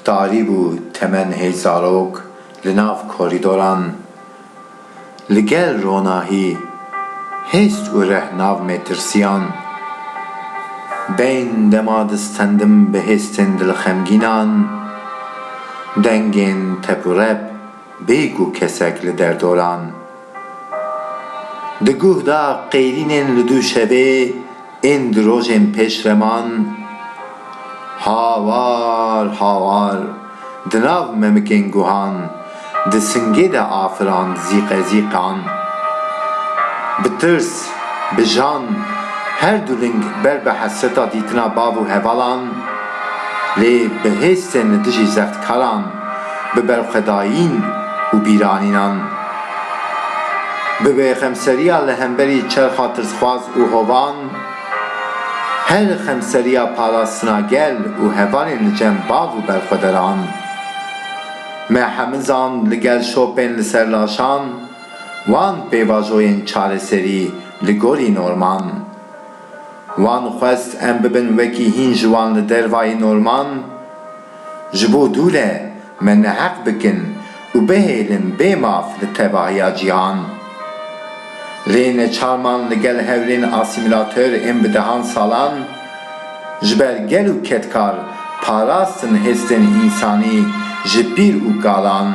Talîb û Temen Hêj Zarok li nav korîdoran li gel ronahî hêst û reh nav mêtirsiyan. Beyn dema distendim bi hêstên dilxemgînan, dengên tep û rep bêgû kesek li derdoran. Di guh de qeyrînên li Dûşevê ên di rojên pêşreman hawar hawar di nav memikên guhan di singê de afirand zîqezîqan. Bi tirs, bi jan her du ling ber bi hesreta dîtina bav û hevalan lê bi hêstên li dijî zextkaran, bi berxwedayîn û bîranînan. Bi vê xemseriya li hemberî çerxa tirsxwaz û hovan, her xemseriya parastina gel û hevalên li cem bav û berxwederan. Me hemizan li gel şopên li ser laşan, wan pêvajoyên çareserî li gorî norman. Wan xwest em bibin wekî hîn ji wan li dervayî norman. Ji bo dûle me neheq bikin û bihêlin bê maf li tevahiya cîhan. Lê neçarman li gel hewlên asîmîlatör ên bi dehan salan ji ber gel û kedkar parastin hêstên însanî ji pîr û kalan.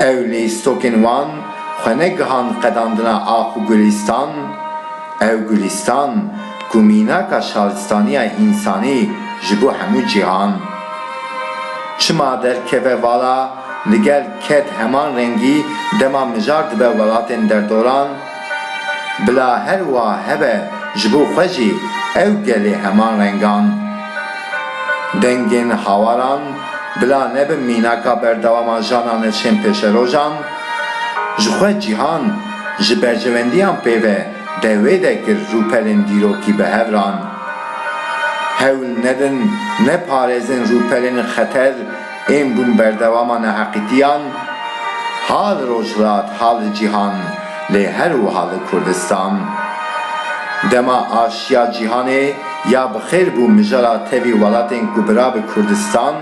Ew lîstokên wan xwe negihand qedandina ax û gulîstan, ew gulîstan ku mînaka şaristaniya însanî ji bo hemû cîhan. Çima derkeve vala li gel ked heman rengî dema mijar dibe welatên derdoran, Bila her wa hebe ji bo xwe jî ew gelê heman rengan. Dengên hawaran bila nebin mînaka berdewama jana neçên pêşerojan. Ji xwe cîhan ji berjewendiyan pê ve de wê de kir rûpelên dîrokî bi hev ran. Hewl nedin neparêzin rûpelên xeter, Ên bûn berdewama neheqîtiyan, ha li Rojhilat ha li cîhan lê her wiha li Kurdistan. Dema aşiya cîhanê ya bi xêr bû mijara tevî welatên ku bira bi Kurdistan,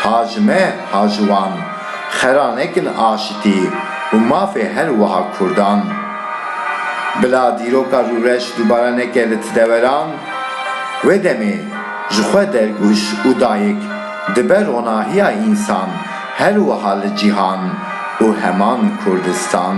ha ji me ha ji wan, xera nekin aşitî û mafê her wiha Kurdan. Bila dîroka rûreş dubare neke li ti deweran, wê demê, Ji xwe dergûş û dayik dibe ronahiya însan her wiha li cîhan û heman Kurdistan.